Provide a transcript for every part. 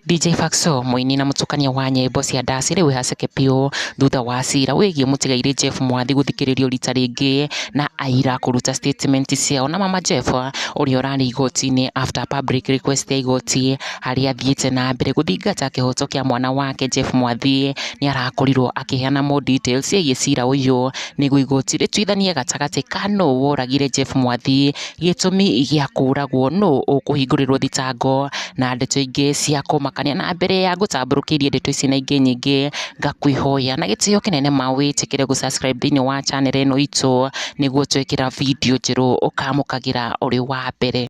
DJ Faxo mũini na mũtukania wa nyĩmbo cia ndaci rĩu haceke biũ thutha wa cira wĩgiĩ mũtigairĩ Jeff Mwathi gũthikĩrĩrio rita rĩngĩ na aira kũruta statement ciao na mama Jeff ũrĩa ũrarĩ igoti-inĩ after public request ya igoti harĩa athiĩte na mbere gũthingata kĩhoto kĩa mwana wake Jeff Mwathi nĩ arakorirwo akĩheana more details ciĩgiĩ cira ũyũ nĩguo igoti rĩtuithanie gatagatĩ ka nũ woragire Jeff Mwathi, gĩtũmi gĩa kũragwo, nũ ũkũhingũrĩrwo thitango na ndeto ingĩ cia kũmakania. Na mbere ya ngũtambũrũkĩirie ndeto ici na ingĩ nyingĩ, ngakũĩhoya na gĩtĩo kĩnene ma wĩtĩkĩre gũ subscribe thĩinĩ wa channel ĩno itũ, nĩguo twekĩra video njerũ ũkamũkagĩra ũrĩ wa mbere.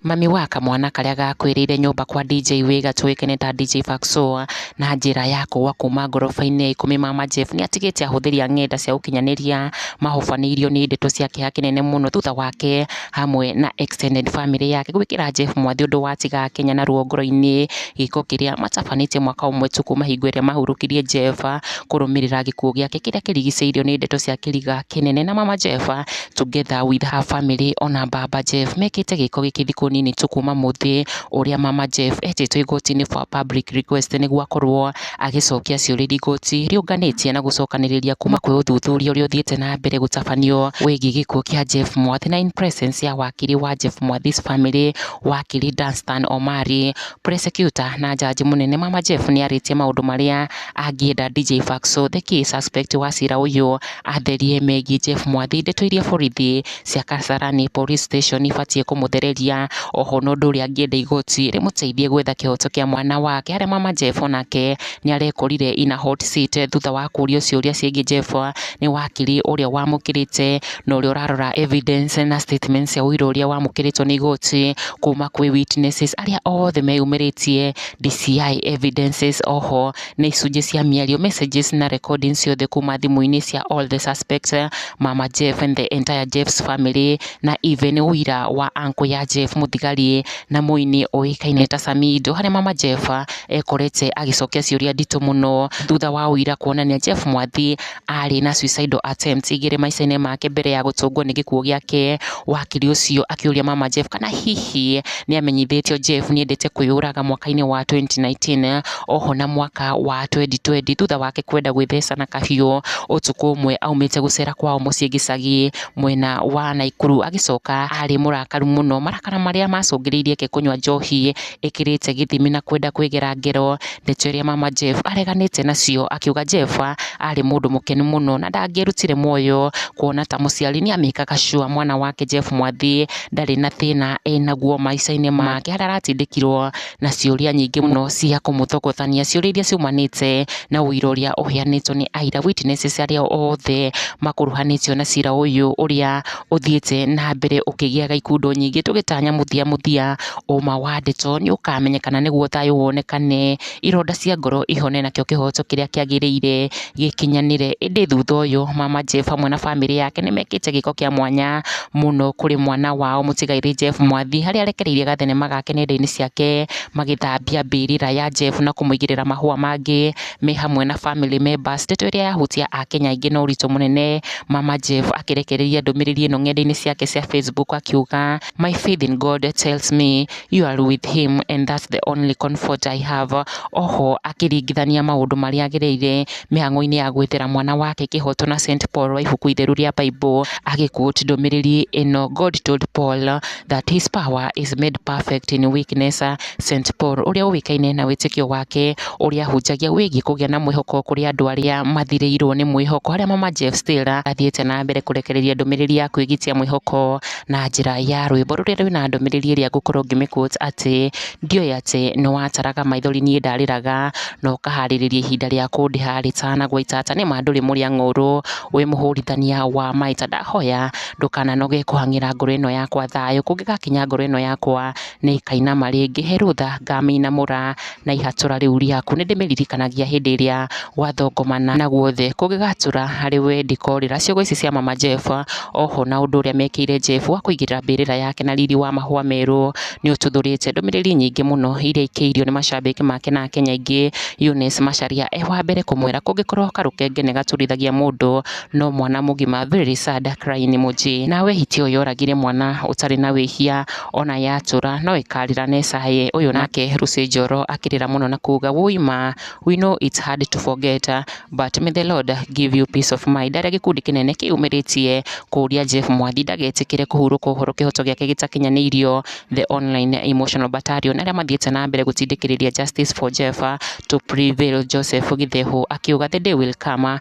Mami wa kamwana karĩa gakuĩrĩire nyũmba kwa DJ Wĩga tũĩkaine ta DJ Faxoa na njĩra ya kũgwa kuma ngoroba-inĩ ya ikũmi mama Jeff nĩ atigĩte ahũthĩri a ng'enda cia ũkinyanĩria mahobanĩirio nĩ ndeto cia kĩeha kĩnene mũno thutha wake hamwe na extended family yake gwĩkĩra Jeff mwathi ũndũ watiga Kenya na ruo ngoro-inĩ gĩko kĩrĩa matabanĩtie mwaka ũmwe tu kuma hingo ĩrĩa mahurũkirie Jeff kũrũmĩrĩra gĩkuũ gĩake kĩrĩa kĩrigicĩirio nĩ ndeto cia kĩriga kĩnene na mama Jeff Together with her family ona Baba Jeff mekĩte gĩko gĩkĩ thikũ nini tu kuma mũthĩ ũrĩa Mama Jeff etĩtwo igoti-inĩ for public request nĩguo akorwo agĩcokia ciũria iria igoti rĩũnganĩtie na gũcokanĩrĩria kuma kwĩ ũthuthuria ũrĩa ũthiĩte na mbere gũtabanio wĩgiĩ gĩkuũ kĩa Jeff Mwathi na in presence ya wakiri wa Jeff Mwathi's family wakiri Danstan Omari, prosecutor na jaji mũnene Mama Jeff nĩarĩtie maũndũ marĩa angĩenda DJ Faxo the key suspect wa cira ũyũ Atherie megiĩ Jeff Mwathi, ndeto iria borithi cia Kasarani Police Station ibatiĩ kũmũthereria. Oho na ũndũ ũrĩa angĩenda igoti rĩmũteithie gwetha kĩhoto kĩa mwana wake harĩa mama Jeff onake nĩ arekorire in a hot seat thutha wa kũrio ciũria ciĩgiĩ Jeff nĩ wakiri ũrĩa wamũkĩrĩte na ũrĩa ũrarora evidence na statement cia ũira ũrĩa wamũkĩrĩtwo nĩ igoti kuma kwĩ witnesses arĩa othe meyumĩrĩtie DCI evidences. Oho na icunjĩ cia mĩario, messages na recordings ciothe kuma thimũ-inĩ cia all the suspects, mama Jeff and the entire Jeff's family, na even ũira wa uncle ya Jeff mũthigari na mũini ũĩkaine ta Samido, harĩa mama Jeff ekorete agĩcokia ciũria nditũ mũno thutha wa ũira kuonania Jeff Mwathi arĩ na suicidal attempt igĩrĩ maica-inĩ make mbere ya gũtũngwo nĩ gĩkuũ gĩake, wakiri ũcio akĩũria mama Jeff kana hihi nĩ amenyithĩtio Jeff nĩ endete kwĩyũraga mwaka-inĩ wa 2019 oho na mwaka wa 2020 thutha wake kwenda gwĩtheca na kahiũ ũtukũ ũmwe aumĩte gũcera kwao mũciĩ gĩcagi mwena wa Naikuru agĩcoka arĩ mũrakaru mũno marakara marĩa macũngĩrĩirie ke kũnyua njohi ĩkĩrĩte gĩthimi na kwenda kwĩgera ngero. Ndeto iria mama Jeff areganĩte nacio akiuga Jeff arĩ mũndũ mũkenu mũno na ndangĩrutire muoyo kuona ta mũciari nĩamĩkaga sure mwana wake Jeff Mwathi ndarĩ na thĩna enaguo maica-inĩ make harĩa aratindĩkirwo na ciũria nyingĩ mũno cia kũmũthogothania. Ciũria iria ciumanĩte na ũira ũrĩa ũheanĩtwo nĩ aira, witnesses, arĩa othe makuruhanĩtio na cira ũyũ ũrĩa ũthiĩte na mbere ũkĩgĩaga ikundo nyingĩ tũgĩtanya mũthia mũthia ũma wa ndeto nĩ ũkamenyekana nĩguo thayũ wonekane, ironda cia ngoro ihone nakĩo kĩhoto kĩrĩa kĩagĩrĩire gĩkinyanĩre. Ĩndĩ thutha ũyũ mama Jeff hamwe na bamĩrĩ yake nĩ mekĩte gĩko kĩa mwanya mũno kũrĩ mwana wao mũtigairĩ Jeff Mwathi, harĩa arekereirie gathenema gake nenda-inĩ ciake magĩthambia mbĩrĩra ya Jeff na kũmũigĩrĩra mahũa mangĩ. me hamwe na family members. Ndeto ĩrĩa yahutia Akenya aingĩ na ũritũ mũnene, Mama Jeff akĩrekereria ndũmĩrĩri ĩno ng'enda-inĩ ciake cia Facebook akiuga, My faith in God tells me you are with him and that's the only comfort I have. Oho akĩringithania maũndũ marĩa agereire mĩhang'o-inĩ ya gwethera mwana wake kĩhoto na Saint Paul wa ibuku itheru rĩa Bible, agĩquote ndũmĩrĩri ĩno, God told Paul That his power is made perfect in weakness, St Paul, ũrĩa ũĩkaine na wĩtĩkio wake ũrĩa ahunjagia wĩgiĩ kũgĩa na mwĩhoko kũrĩ andũ arĩa mathirĩirũo nĩ mwĩhoko, harĩa Mama Jeff Still athiĩte na mbere kũrekereria ndũmĩrĩri ya kwĩgitia mwĩhoko na njĩra ya rwĩmbo rũrĩa rwĩna ndũmĩrĩri ĩrĩa ngũkorũo ngĩmĩ-quote atĩ, Ndioĩ atĩ nĩ wataraga maithori niĩ ndarĩraga, na ũkahaarĩrĩria ihinda rĩa kũndĩha rĩtanagwa itata, nĩ ma ndũrĩ mũrĩa ng'ũũrũ, wĩ mũhũũrithania wa maita, ndahoya ndũkananoge kũhang'ĩra ngoro ĩno yakwa thayũ, kũngĩgakinya ngoro ĩno yakwa nĩ ĩkainama rĩngĩ, he rũtha ngamĩinamũra na ihatũũra rĩu rĩaku, nĩ ndĩmĩririkanagia hĩndĩ ĩrĩa gwathongomana na guothe, kũngĩgatũũra harĩ we ndikorĩra, ciugo ici cia mama Jehova, o ho na ũndũ ũrĩa mekĩire Jehova, wa kũigĩrĩra mbĩrĩra yake na riri wa mahũa merũ, nĩ ũtuthũrĩte ndũmĩrĩri nyingĩ mũno iria aikĩirio nĩ macambĩki make na akenya aingĩ, Eunice Macharia e wa mbere kũmwĩra, kũngĩkorwo karũkenge nĩ gaturithagia mũndũ, no mwana mũgima very sad cry nĩ mũjĩ na wehiti ũyũ yoragire mwana ũtarĩ na wĩhia ona yatũra no ĩkarĩra na ĩcaye ũyũ nake Lucy Njoro akĩrĩra mũno na kuga woi ma we know it's hard to forget but may the Lord give you peace of mind arĩa gĩkundi kĩnene kĩyumĩrĩtie kũria Jeff Mwathi ndagetĩkĩre kũhurũka ũhoro kĩhoto gĩake gĩtakinyanĩirio the online emotional battalion arĩa mathiĩte na mbere gũtindĩkĩrĩria justice for Jeff to prevail Joseph Githehũ akiuga the day will come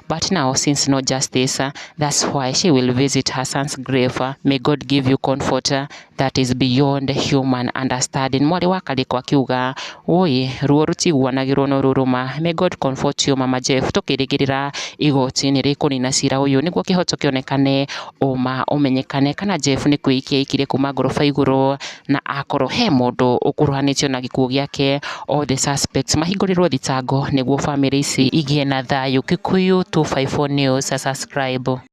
but now since no justice that's why she will visit her son's grave may God give you comfort that is beyond human understanding mwarĩ wa karĩko akiuga ũĩ ruo rũtiguanagĩrwo no rũrũma may God comfort you mama Jeff tũkĩrĩgĩrĩra igoti nĩ rĩkũnina cira ũyũ nĩguo kĩhoto kĩonekane ũma ũmenyekane kana Jeff nĩ kwĩikia aikire kuma ngoroba igũrũ na akorwo he mũndũ ũkuruhanĩtio na gĩkuũ gĩake, all the suspects mahingũrĩrwo thitango nĩguo bamĩrĩ ici igĩe na thayũ. Kikuyu 254 News, subscribe.